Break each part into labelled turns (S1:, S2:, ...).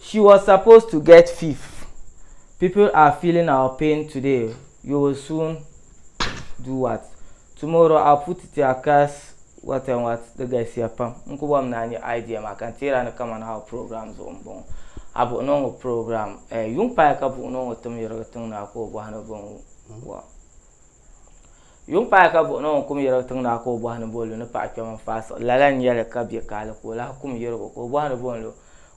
S1: She was supposed to get fif People are feeling our pain today You will soon do what? Tomorrow I'll put it to your curse What and what Di galisiya pam N ku bɔrimi ni a nya idea maa ka n teeri a ni kamani our program zuɣu m-bɔŋɔ A buɣi ni o ŋɔ program eh, yuŋ paai ka buɣi ni o ŋɔ tim yirigi tiŋ ni a ku o bɔhi ni bɛ ŋu wa. Yuŋ paai ka buɣi ni o kum yɛrigi tiŋ naa ka o bɔhi ni bo lu ni paɣa kpɛm n faai siɣi lala n yɛli ka bɛ kaali ka o lahi kum yɛrigu ka o bɔhi ni bo n lu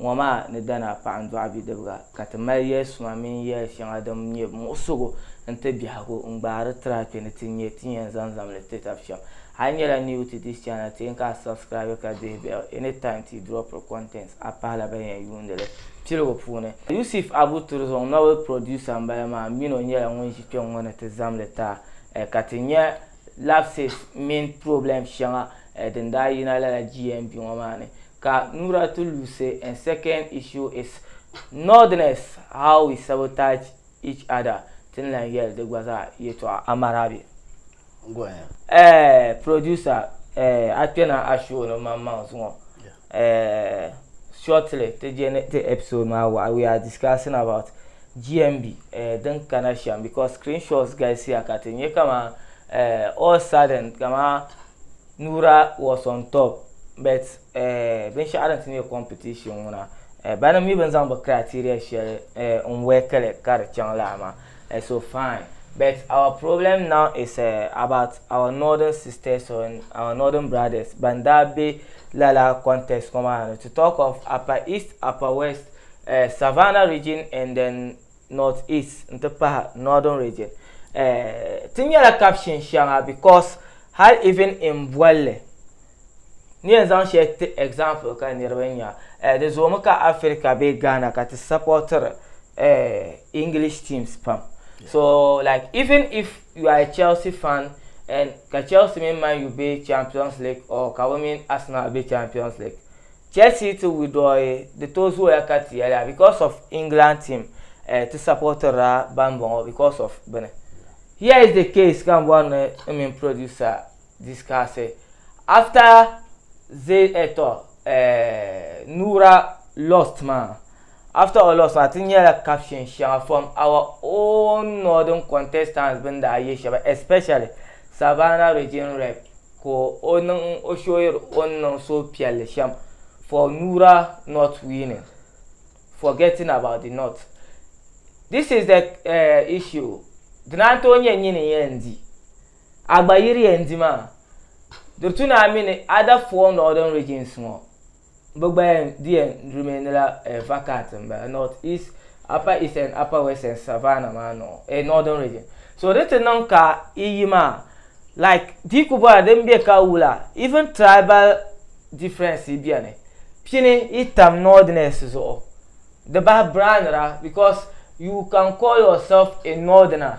S1: ŋɔ maa ni dana paɣa n dɔɣi bidibiga ka ti mali yɛli suma mini yɛli shɛŋa din nyɛ muɣisigu n ti biɛhigu n gbaari tira kpɛ ni ti nyɛ ti yɛn zaŋ zaŋ li ti tab shɛm a yi nyɛla new ti this channel ti yɛn ka a subscribe ka dihi bell anytime ti dropiri content a pahila ban yɛn yuundili piligu puuni Yusuf Abu Turzong novel producer n bala maa mini o nyɛla ŋun ʒi Kpe ŋɔ ni ti zam li taai eh, ka ti nya lapses mini problems shɛŋa eh din daa yina lala GMB ŋɔ maa ni. Ka Nura ti luusi eh second issue is Northerners how we sabotage each other ti ni lan yɛli di gba zaa yɛtɔɣa. Amarabi. Go
S2: ahead. Eh, producer
S1: eh a kpɛna a show ni maŋmaŋ zuŋɔ uh, shortly ti je ni ti episode maa waɣa we are discussing about GMB uh, eh, din kana shɛm because screenshots galisiya ka ti nyɛ kama uh, all sudden kama Nura was on top but uh, binshɛɣu din ti nyɛ competition ŋuna uh, bani mi bin zaŋ bi criteria shɛli uh, n wɛkili ka di chaŋ laa maa Eh so fine but our problem now is eh, about our northern sisters or our northern brothers ban daa be lala context ŋɔ maa ni to talk of upper east, upper west, eh Savannah region and then north east n ti pahi northern region eh ti nyɛla kapshin shɛŋa because hali even in bolli N yɛn zaŋ shɛli ti example ka niriba nya, eh, di zoomi ka Africa bee Ghana ka ti supportiri eh, English teams pam. Yeah. So, like, even if you are a Chelsea fan, and ka Chelsea mini Man U be Champions League or ka bɛ mini Arsenal be Champions League, Chelsea ti withdraw di tooi zooya ka ti yɛliya because of England team eh, ti supportirila bambɔŋɔ because of bini. Here is the case ka m bɔri ni n mini producer discussed after ze eh, to eh, Nura lost maa after o lost maa ti nyɛla caption shɛŋa from our own northern contestants bin daa ye shɛba especially Savannah region rep ka o niŋ o showiri o ni niŋ suhupiɛlli shɛm for Nura not winning forgetting about the north this is the uh, issue di naan tooi nyɛ nyini yɛn di A gba yiri yɛn di maa. Durtuna mini Ada Fuwɔŋ Northern Regions ŋɔ bɛ gba yɛn di yɛn remain la eh vacant m bala North East, Upper East and Upper West and Savannah maa nɔɔ eh Northern Region. So di ti niŋ ka yi yi maa like di yi ku bɔra din be ka wula even tribal difference beni pini yi tam Northerners zuɣu di bahi brand ra because you can call yourself a Northerner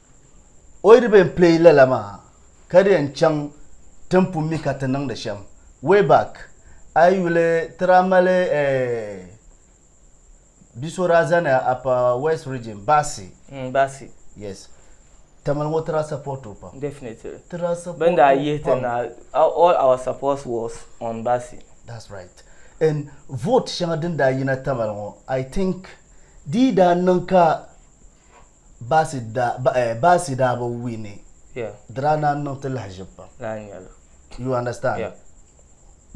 S2: O yi di bɛn pileyi lala maa ka di yɛn chaŋ ti ni pun mi ka ti niŋdi shɛm. Way back, a yi yuli ti daa mali Biso daa zani Upper West Region, Baasi. Mm, Baasi.
S1: Yes.
S2: Tamale ŋɔ ti daa support o pam. Definitely. Ti daa support o
S1: pam. Bɛn daa
S2: yihi ti
S1: na, all our support was on Baasi. That's right.
S2: And vote shɛŋa din daa yina Tamale ŋɔ, I think di yi daa niŋ ka Bassey daa bi wini di daa
S1: naan niŋ ti
S2: lahaʒib pam you understand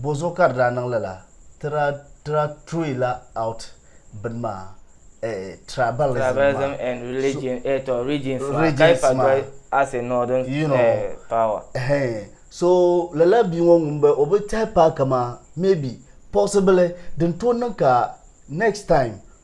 S1: bɔzuɣu
S2: ka di daa niŋ lala ti daa turila out bini maa tribalism
S1: and religion ɛtɔ regions maa ka ifa doli as a northern power so
S2: lala bia ŋɔ ŋun bala o bi tɛhi paaki maa maybe possibly din tooi niŋ ka next time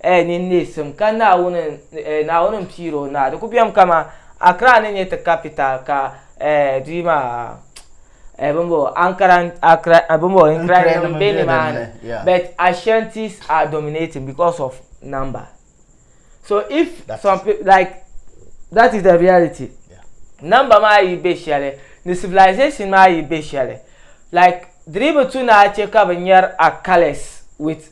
S1: eh, ni neesim, ka Naawuni eh, Naawuni n piiri o naa. Di ku bem kaman Accra ni nyɛ ti capital ka eh, di maa eh, bimbo Ankara Accra eh, bimbo Nkranima be nimaani but Ashantis are dominating because of number. So if some people like that is the reality. Number
S2: maa yi
S1: be shɛli ni civilization maa yi be shɛli like di dii bi tu ni a che ka bi nyari a colours with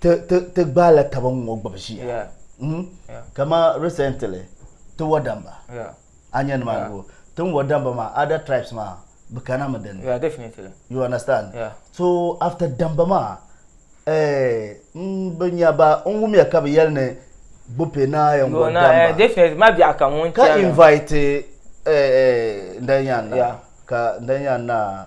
S2: ti gbaai la taba ŋɔ gbubi ʒiya hmm?
S1: kama
S2: recently ti wa damba a nyɛ
S1: nimaa go
S2: tin wa damba maa other tribes maa bi kana mi din you
S1: understand
S2: so
S1: after damba
S2: maa eh, n bi nya ba n wumya ka bi yɛli ni gbupe naa yɛn wa damba
S1: ka invite
S2: eh, eh, ndɛn yan na ka ndɛn yan na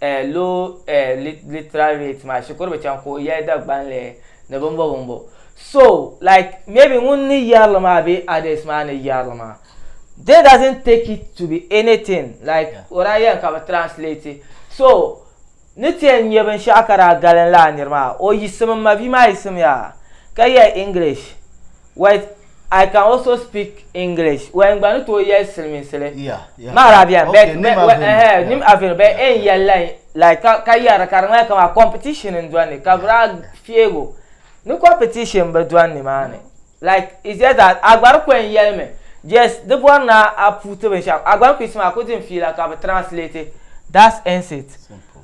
S1: A lo A literal rate maa shikuru bi chaŋ ka o yɛli Dagbanli ni bimbo bimbo. So, like, maybe ŋun ni yɛri li maa bee others maa ni yɛri li maa, they doesn't take it to be anything, like, o daa yɛli ka bi translate. So, ni ti yɛn nya binshɛɣu ka daa galinli a niri maa, o yiɣisimi, m mabia maa yiɣisimiya ka yɛli English, Wait, I can also speak English. Wait, n gba ni tooi yɛli silimiinsili. Ma Arabian,
S2: but
S1: nim Aveno, but ɛn yɛli la like ka ka yɛra ka di ŋmani kama competition n dɔni ka bi daa fiɛgo ni competition bi dɔni ni maa ni like it's just that a gba di ko n yɛli mi yes di bɔri na a puuti binshɛɣu a gba ni ku yiɣisi maa a ku din fiila ka bi translate that's ends it.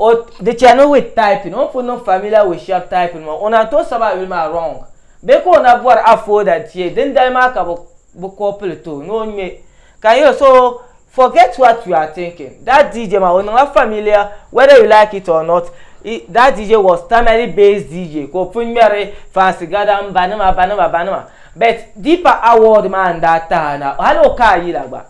S1: O di chani with typing, o ni pun niŋ familiar with shɛb typing maa, o naan tooi sabi a yuli maa wrong. Bee ka o na bɔri a folder n-tie dindali maa ka bɛ bɛ copy li ti o ni o ŋme. Can you, so, forget what you are thinking? That DJ maa, o niŋla familiar, whether you like it or not, i, that DJ was Tamale based DJ ka o pun ŋmɛri Fancy Gadam, Banima, Banima, Banima. But, deeper award maa n-daa tahi a na, hali o ka a yila gba.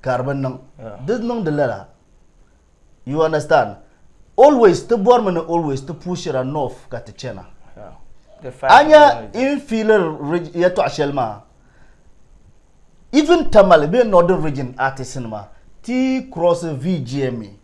S2: ka di bi niŋ di niŋdi lala you understand always ti bɔrimi ni always ti pushira north ka ti chana anya in fiilir yɛtɔɣa shɛli maa even tamale bee northern region artist nima ti cross VGMA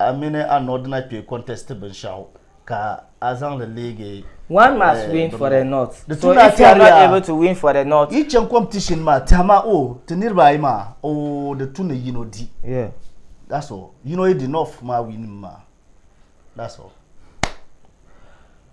S2: A mini a nɔdi na kpee contest binshɛɣu ka a zaŋ li leegi. One must win
S1: for the north. So if you are not able to win for the north. Yi chaŋ competition maa
S2: tɛha ma o ti niriba ayi maa o di tu ni yino di. That's
S1: all.
S2: Yino yi di north maa win mi maa. That's all.